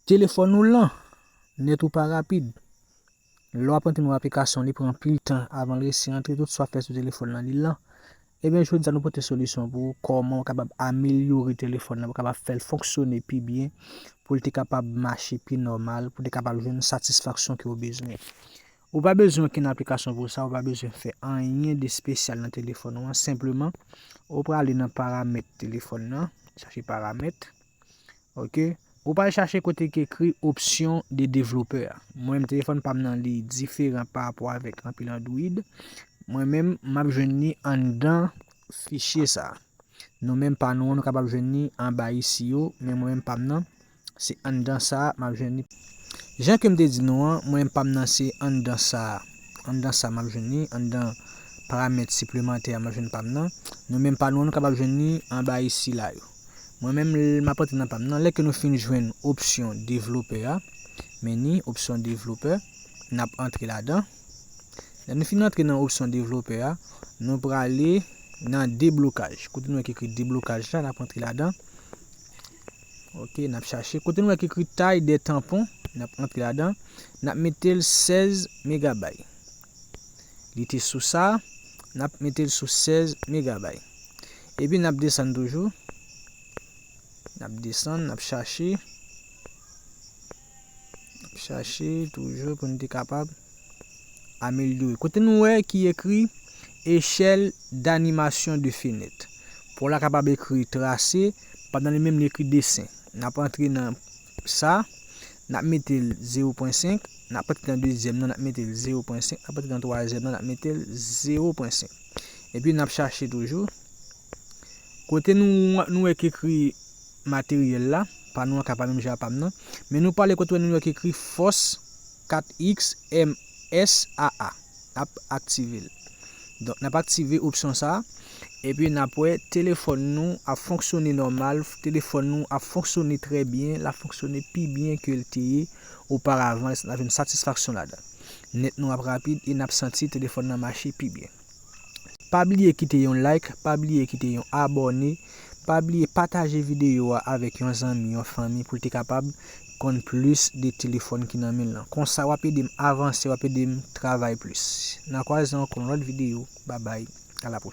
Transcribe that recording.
Telefòn ou lan, nèt ou pa rapid. Lè wap antre nan yon aplikasyon li pran anpil tan avan l resi antre tout sa wap fè sou telefòn lan li lan. Ebyen jodi a nou pote solisyon pou ou kòman ou kapab amelyore telefòn lan pou kapab fè l fonksyone pi byen pou l te kapab mache pi nòmal pou te kapab jwenn satisfaksyon ke ou bezwen. Ou pa bezwen okenn aplikasyon pou sa, ou pa bezwen fè anyen de spesyal nan telefòn ou an, senpleman ou prale nan paramèt telefòn lan, chache paramèt. Ok ou pa al chache kote ki ekri option de developer a mwen menm telefòn pam nan li diferan pa rapò avèk anpil android mwen menm map jwenn li anndan fichye sa nou menm pa nou an nou kapab jwenn li anba isi yo men mwen menm pam nan se anndan sa map jwenn li jan kem te di nou an mwen menm pam nan se anndan sa anndan sa map jwenn li anndan paramèt siplemantè a map jwenn pam nan nou menm pa nou an nou kapab jwenn li anba isi la yo. Mwen menm l map antre nan pam nan lè ke nou fin jwenn opsyon developè a meni opsyon developè nap antre ladan lè nou fin antre nan opsyon developè a nou prale nan deblokaj kote nou wè ki ekri deblokaj la nap antre ladan ok nap chache kote nou wè ki ekri tay de tanpon nap antre ladan nap metel 16 megabay. Li te sou sa, n ap mete l sou 16 megabay. Epi n ap desann toujou, n ap desann, n ap chache, n ap chache toujou pou n te kapab amelyore. Kote nou wè ki ekri echèl danimasyon de fenèt. Pou la kapab ekri trase, pandan li menm li ekri desen. N ap antre nan. sa nap metel 0 pwen 5 nap pati nan dezyèm nan nap metel 0 pwen 5 nap pati nan twazyèm nan nap metel 0 pwen 5 epi nap chache toujou kote nou nou wè ki ekri materyèl la pa nou an ka pa menm jan a pam nan men nou pale kote nou wè ki ekri fòs 4 x m SAA ap aktive l. Donk n ap aktive opsyon sa a, epi n ap wè telefòn nou ap fonksyone nòmal, telefòn nou ap fonksyone trè byen, l ap fonksyone pi byen ke l te ye oparavan, n ap jwenn satisfaksyon ladan l. Nèt nou ap rapid e n ap santi telefòn nan mache pi byen. Pa bliye kite yon like, pa bliye kite yon abòne, pa bliye pataje videyo a avèk yon zanmi, yon fanmi pou l te kapab konn plis de telefòn ki nan men l lan. Konsa w ap ede m avanse, w ap ede m travay plis. N a kwaze ankò nan lòt videyo. Babay, a la pwochèn.